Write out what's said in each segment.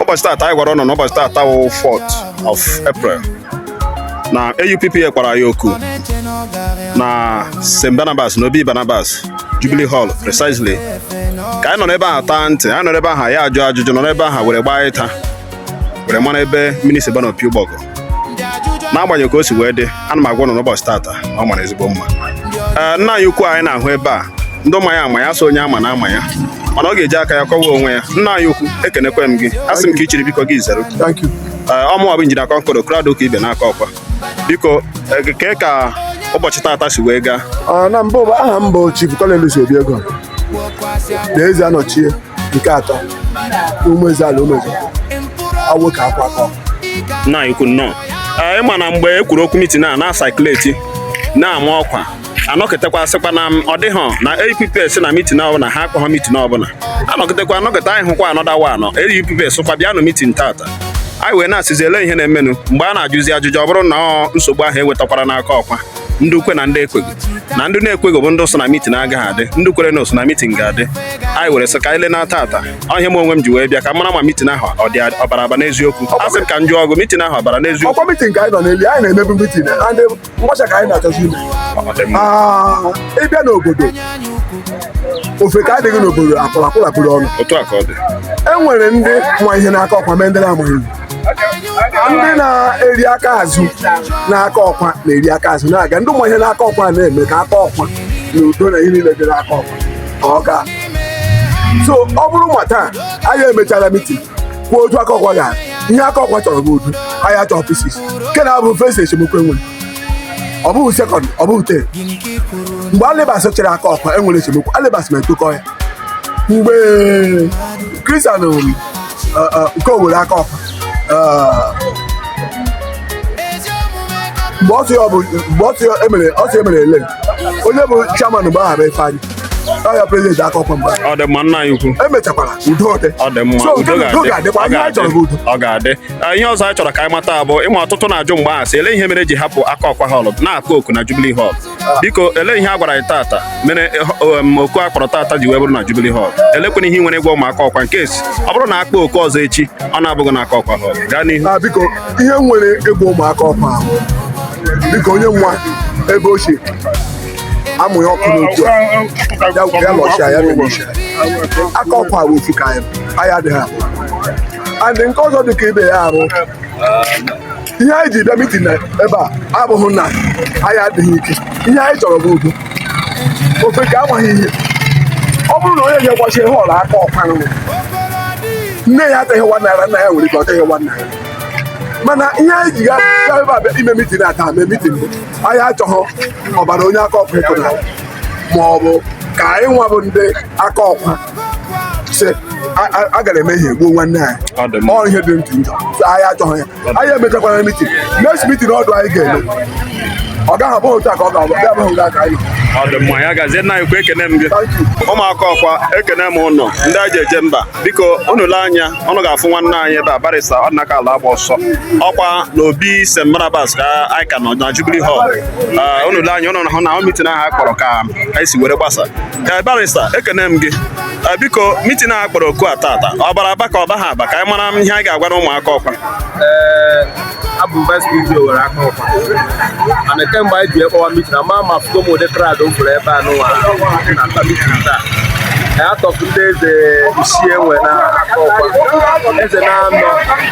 ụbọchị taata anyị gwara ụnụ na ụbọchị taata wụ 4th of April na AUPP kwara ya oku na St. Barnabas na Obi Barnabas Jubilee Hall precisely ka anyị nọrọ ebe ahụ taa ntị anyị nọrọ ebe ahụ ya ajụ ajụjụ nọrọ ebe ahụ were gbaa ịta were mara ebe mini si baa n'opi ụgbọgụ n'agbanyeghị ka o si wee dị ana m agwa ụnụ na ụbọchị tata ọ mara ezigbo mma ee nna anyị ukwu anyị na-ahụ ebe a ndị ma ya ama ya so onye ama na ama ya mana ọ ga-eji aka ya kọwa onwe ya nna anyị ukwu ekenekwa m gị a sị m ka i chiri biko gị zere ee ọ mụwa bụ injinia Concord Okoro adịghị ka ibe n'Akokwa biko kee ka ụbọchị tata si wee gaa na mbụ aha m bụ Chief Collins Obiego na Ezeanọchie nke atọ Ụmụezeala ụmụeze awo Akokwa nna anyị ukwu nnọọ Ee, ị ma na mgbe e kwuru okwu mitin a na-circulate na-ama ọkwa anọkịtakwa sịkwa na m, ọ dịghọ na AUPP sị na mitin ọbụla ha akpọghọ mitin ọbụla anọkịtakwa anọkịta anyị hụkwa another one na AUPP sịkwa bịanụ mitin tata anyị wee na-asịzi ele ihe na-emenụ mgbe a na-ajụzi ajụjụ ọ bụrụ na ọ nsogbu ahụ ewetakwara n'Akokwa ndị kwe na ndị ekweghị na ndị na-ekweghị bụ ndị sị na mitin agaghị adị ndị kwere na-asị na mitin ga-adị anyị were sị ka anyị lee na tata ọ ihe a mụ onwe m ji wee bịa ka m mara ma mitin ahụ ọ dị ọ bara aba n'eziokwu a sị m ka m jụọ gị mitin ahụ ọ bara n'eziokwu ọ kwa mitin ka anyị nọ n'eli anyị na-emebu mitin ndị mgbacha ka anyị na-achọzi ime ah, ị bịa n'obodo ofeke adịghị n'obodo akwụrụ akwụrụ ọnụ e nwere ndị ma ihe n'Akokwa nwee ndị na-amaghị ndị na-eri aka azụ n'Akokwa na-eri aka azụ na-aga ndị ma ihe n'Akokwa na-eme ka Akokwa na udo na ihe niile dị n'Akokwa ka ọ gaa so ọ bụrụ ma taa anyị emechara mitin kwuo otu Akokwa ga ihe Akokwa chọrọ bụ udo anyị chọrọ peace nke a abụghị first esemokwu e nwere ọ bụghị second ọ bụghị third mgbe Alibas chịrị Akokwa e nwere esemokwu Alibas ma etokọ ya mgbe Christian nke Owerre Akokwa mgbe ọsị ọ bụ mgbe ọsị emere ọsị emere ele onye bụ chairman mgbe ahụ bụ Ifeanyi ọ ya president Akokwa mgbe ọ dị mma nna anyị ukwu emechakwara udo dị ọ dị mma udo ga-adị ọ ga-adị ọ ga-adị ihe ọzọ anyị chọrọ ka anyị mata bụ ị ma ọtụtụ na-ajụ mgbe ahụ sị ele ihe mere e ji hapụ Akokwa Hall na-akpọ oku na Jubilee Hall biko ele ihe a gwara anyị tata mere um, oku a kpọrọ tata ji wee bụrụ na Jubilee Hall elekwanụ ihe i nwere ịgwa ụmụ Akokwa in case ọ bụrụ na akpọ oku ọzọ echi ọ na-abụghị na Akokwa Hall gaa n'ihu ah, biko ihe m nwere ịgwa ụmụ Akokwa bụ biko onye nwa ebe ochie amụ ya ọkụ n'otu a ya lọchia ya memechi Akokwa bụ ofu ka anyị adịghị abụọ and nke ọzọ dị ka ibe ya arụ ihe anyị ji bịa mitin ebe a abụghị na anyị adịghị ike ihe anyị chọrọ bụ udo ofeke amaghị ihe ọ bụrụ na onye ga-egbachi họlụ akokwa nne ya atụghị one naira nna ya nwere ike ọ tụghị one naira mana ihe anyị ji gaa ebe a bịa ime mitin taa mee mitin bụ anyị achọghị ọbara onye akokwa ịpụta ma ọ bụ ka anyị nwa bụ ndị akokwa sị a gara eme ihe gbuo nwanne anyị ọ ihe dị ntụ njọ anyị achọghị ya anyị emechakwara mitin next mitin ọdọ anyị ga-eme ọ gaghị abụ otu a ka ọ ga-abụ bịa abụghị nga ka anyị ọ dị mma ya gazie nna anyị ukwu ekene m gị ụmụ akokwa ekene m ụnụ ndị a ji eje mba biko unu lee anya ụnụ ga-afụ nwanne anyị ebe a barista ọdịnaka alagbaọsọ ọ kwa na obi st barnabas ka anyị ka nọ na jubilee hall unu lee anya ụnụ na-ahụ na mitin ahụ a kpọrọ ka anyị si were gbasa barista ekene m gị Eh, biko mitin a kpọrọ oku a tata ọ bara aba ka ọ baghị aba ka anyị mara ihe anyị ga-agwanụ ụmụ Akokwa eh, abụ m vice PG Owerre Akokwa mana kemgbe anyị ji akpọwa mitin ama m afụtụ m ụdị crowd a fụrụ ebe a nụwa na mitin taa out of ndị eze isii e nwe na Akokwa eze na-anọ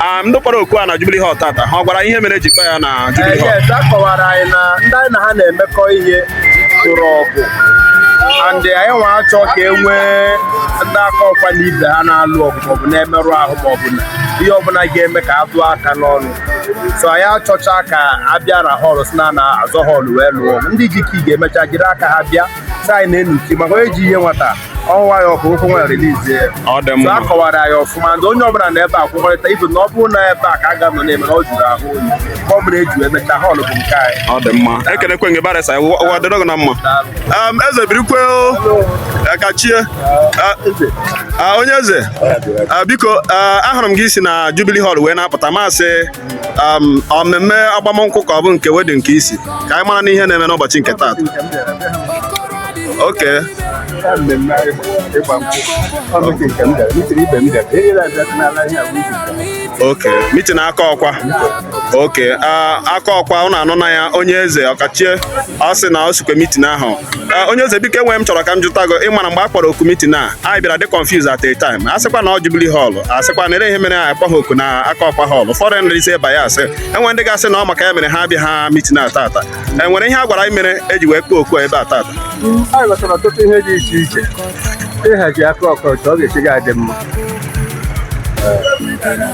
Ah, ndị kpọrọ oku a na Jubilee Hall tata ha gwara ihe mere e ji kpọọ ya na eh, Jubilee Hall yes a kọwara anyị na ndị anyị na ha na-emekọ ihe chọrọ ọgụ and anyị nwa achọ ka e nwee ndị Akokwa na ibe ha na-alụ ọgụ maọbụ na-emerụ ahụ maọbụ na ihe ọbụla ga-eme ka a tụọ aka n'ọnụ so anyị achọcha ka a bịa na họlụ sị na a na-azọ họlụ wee lụọ ọgụ. ndị ji key ga-emecha jiri aka ha bịa sị anyị naanụ key maka onye ji ihe nwata ọwa ya ọkụ ụkwụ o were release ya ọ dị mma so a kọwara ya ọfụma ndị onye ọbụla nọ ebe a kwekọrịta ibu na ọ bụrụ na ebe a ka a ga-anọ na-eme na ọ jụrụ ahụ oyi ka ọ bụla eju emecha họọlụ bụ nke anyị ọ dị mma ekenekwe m gị barịsta ụwa dịrị gị na mma Daalụ. Um, eze birikwe o. Eh, kachie Ah, ah, onye eze Ah, biko ah, ahụrụ m gị i si na Jubilee Hall wee na-apụta m sị um, mmemme agbamnkwụ ka ọ bụ nke wedin nke i si ka anyị maranụ ihe na-eme n'ụbọchị nke taata okay okay mitin akokwa okay ah, akokwa ụnụ anụna ya onye eze ọkachie ọ sị na o sikwe mitin ahụ Ee, onye eze biko e nwe ihe m chọrọ ka m jụta gị ị mara mgbe a kpọrọ oku mitin a anyị bịara dị confused at a time a sịkwa na ọ jubili họl a sịkwa na ele ihe mere anyị akpọghị oku na akokwa họl ụfọdụ ndị ise bias e nwe ndị ga-asị na ọ maka ya mere ha abịaha mitin a tata e nwere ihe a gwara anyị mere e ji wee kpọọ oku a ebe a tata anyị ghọtara ọtụtụ ihe dị iche iche ịhazi akokwa otu ọ ga-esi ga-adị mma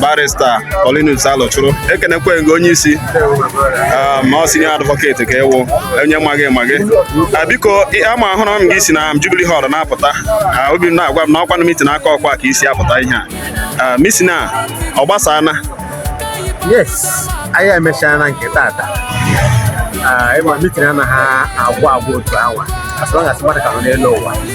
barista Paulinus Alochụrụ ekenekwe m gị onye isi ah, ma ọ senior advocate ka ị wụ onye ma gị ma gị ah, biko ama ahụrụ m gị i si na Jubilee Hall na-apụta ah, obi m na-agwa m na ọkwa na mitin Akokwa ka i si apụta ihe a mitin a ọ gbasana yes anyị emechaana nke tata ị ma mitin anaghị agwụ agwụ otu awa as long as mmadụ ka nọ n'elu ụwa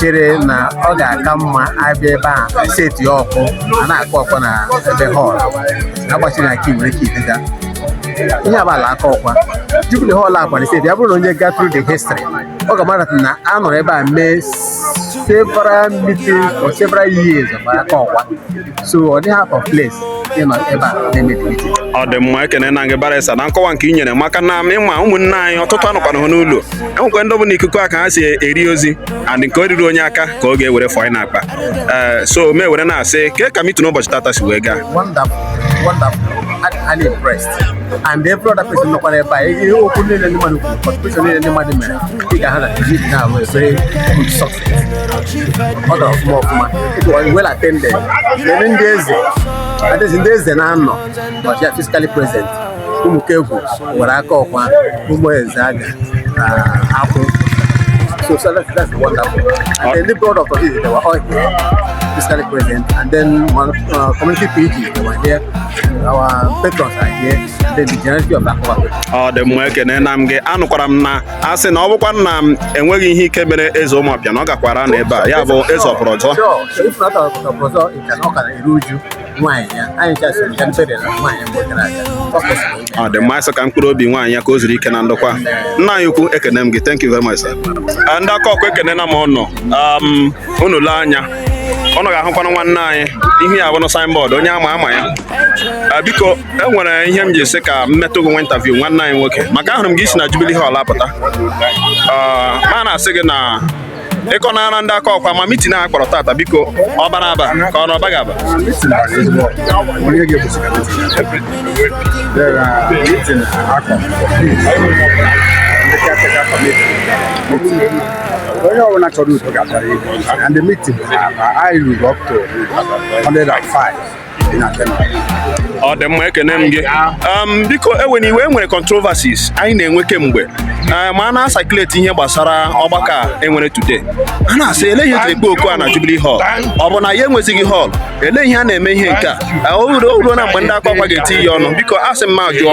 chere na ọ ga-aka mma a bịa ebe a seti oku a na-akpọ oku na ebe họl agbachiri na nke nwere ike idega ihe abala Akokwa Jubilee Hall akwara seti ya bụrụ na onye gaa through the history ọ ga-amara na a nọrọ ebe a mee several meetings for several years of Akokwa so ọ dịghị out of place ịnọ ebe a na-eme meeting ọ dị mma ekenena m gị barịsta na nkọwa nke i nyere maka na ị ma ụmụnne anyị ọtụtụ anọkwana ha n'ụlọ e nwekwa ndị ọ bụ n'ikuku a ka ha si eri ozi and nke o ruru onye aka ka ọ ga-ewere fanye n'akpa ee so m ewere na-asị kee ka mitin ụbọchị tata si wee gaa wonderful wonderful and, highly impressed and every other person nọkwara ebe a ihe okwu niile ndị mmadụ kwuru contribution niile ndị mmadụ mere ị ga-ahụ na meeting ahụ very good success ọ dọrọ ọfụma ọfụma it was well attended lele ndị eze adịzi ndị eze anọ were here physically present Ụmụkegwu Owerre Akokwa Ụmụezeaga na Akwụ so, so that's, that's wonderful and then the broad of it they were all here physically present and then uh, community PG they were here ọ dị mma ekenena m gị anụkwara m na a sị na ọ bụkwa na e nweghị ihe ike mere eze Ụmụọpịa na ọ gakwara anọ ebe a ya bụ eze Ọpụrụọzọ ọ dị mma anyị sị ka mkpụrụ obi nwaanyị ya ka o zuru ike na ndokwa nna anyị ukwu ekene m gị thank you very much sir. ndị Akokwa ekenena m unu um, unu lee anya unu ga-ahụkwanụ nwanne anyị ihu ya bụnụ signboard onye ama ama ya ah, biko e nwere ihe m ji sị ka m meetụ gị nwa interview nwanne anyị nwoke maka ahụrụ m gị i si na Jubilee Hall apụta ah, ma na-asị gị na ị kọnara ndị Akokwa ma mitin a kpọrọ tata biko ọ bara aba ka ọ na ọ baghị aba Thank you. onye ọbụla chọrọ udo ga-abịara ihu and the meeting anyị ruru up to 105 in attendance ọ dị mma ekene m gị um, biko ewena iwe e nwere controversies anyị na-enwe kemgbe eh, ma a na-asakileti ihe gbasara ọgbakọ a e nwere today a na-asị ele ihe e ji ekpe oku a na Jubilee Hall ọ bụ na ya enwezighị hall ele ihe a na-eme ihe nke a eh, o ruona mgbe ndị Akokwa ga-etinye ọnụ biko a sị m m ajụọ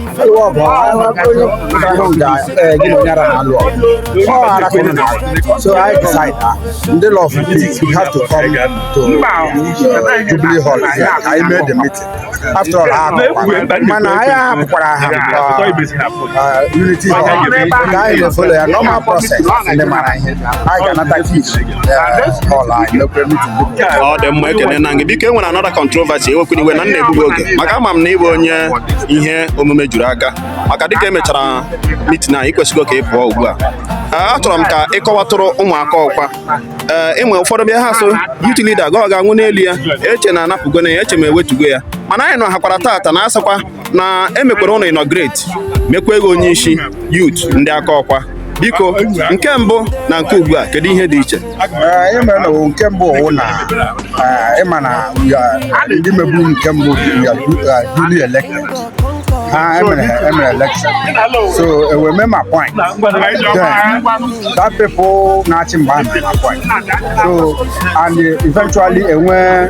ịwa ọgụ ahụ ga gị na onye ara ha lụọ ọ ara ka unu na-alụ so I decide na ndị law of peace we have to come to Jubilee Hall here ka anyị mee the meeting after all ha akụkwa mana anyị ahapụkwara ha unity hall ka anyị na-efolo ya normal process ndị mara ihe anyị ga-anata key ọ dị mma ekene na gị biko e nwere another controversy ewekwana iwe na m na-egbu gị oge maka ama m na ị bụ onye ihe omume juru aka maka dịka e mechara meeting a ị kwesịgo ka ị pụọ ugbu a achọrọ m ka ị kọwatụrụ ụmụ Akọkwa ee e nwee ụfọdụ bịa ha sị youth leader ga ọ ga-anwụ n'elu ya e chee na a napụgo na ya e chee ma e wetugo ya mana anyị nọ hakwara tata na asakwa na e mekwara unu inaugurate mekwaa gị onye isi youth ndị Akọkwa biko nke mbụ na nke ugbu a kedu ihe dị iche anyị mere na nke mbụ wụ na eh, ị ma na ndị mebu nke mbụ duly elected ha e mere e mere election so e wee mee m appoint then that people na-achị mgbe ahụ m appoint so and eventually enwe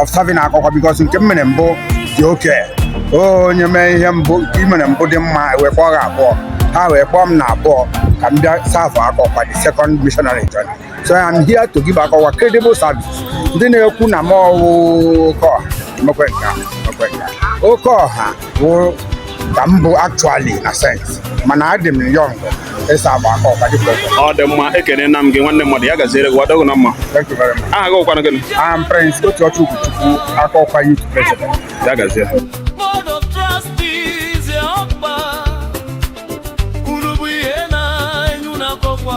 of serving Akọkwa because nke m mere mbụ dị okay onye mee ihe mbụ nke i mere mbụ dị mma wee kpọọ gị abụọ ha wee kpọọ m na abụọ ka m bịa serve Akọkwa the second missionary journey so I am here to give Akọkwa credible service ndị na-ekwu na mụ wụ oke ọha emekwe nke a, emekwe nke a. oke ọha bụ ka m bụ actually na sense mana adị m young ịserve Akọkwa dịka ọkọ ọ dị mma ekene na m gị nwanne mmadụ ya gaziere gị wadogụ na mma thank you very much aha gị wụkwanụ gịnị I'm Prince otu ọchụ Ugochukwu Akọkwa youth president ya gaziere Board of Trustees ya ọkpa unu bụ ihe na-enye unu Akọkwa